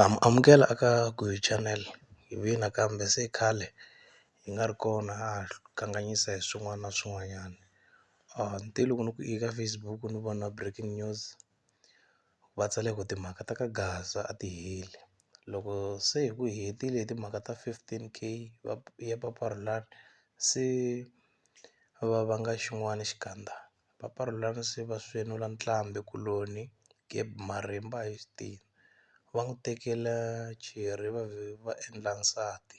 Um, amukela eka Guyu channel hi vuye nakambe se khale hi nga ri kona ha kanganyisa hi swin'wana na swin'wanyana ni te loko ni ku i ka Facebook ni vona breaking news va tsale ku timhaka ta ka Gaza a ti heli loko se hi ku hetile timhaka ta fifteen K va ya papa Rhulani se va va nga xin'wani xikandza papa Rhulani se va swenula ntlhambi kuloni Gab marimba hi xitina va n'wi tekela cheri va vhe va endla nsati.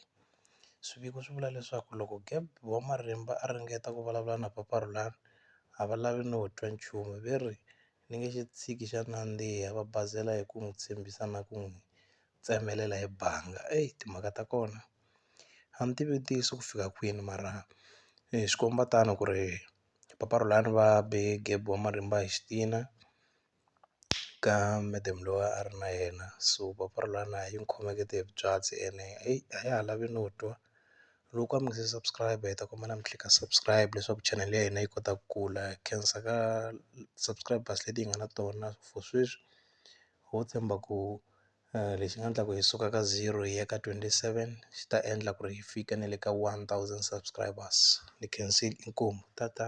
Swiviko swi vula leswaku loko Gov. Marimba a ringeta ku vulavula na Papa Rhulani a va lavi no twa nchumu, ve ri, Ni nge xi tshiki xa nandziha, va basela hi ku n'wi tshembisa na ku n'wi tsemelela hi banga. Eyi timhaka ta kona a ni tivi ntiyiso ku fika kwini mara swi komba tano ku ri Papa Rhulani va be Gov. Marimba hi xitina. ka madam loyi a ri na yena so papa ra lani a yi n'wi khomekete hi byatsi ene a ya ha lavi no twa loko a mi nga se subscribe hi ta kombela mi tlhela ka subscribe leswaku chanel ya hina yi kota ku kula khensa ka subscribers leti hi nga na tona for sweswi ho tshemba ku lexi nga endlaka hi suka ka zero hi ya ka twenty seven xi ta endla ku ri hi fika na le ka one thousand subscribers ni khensile inkomu tata.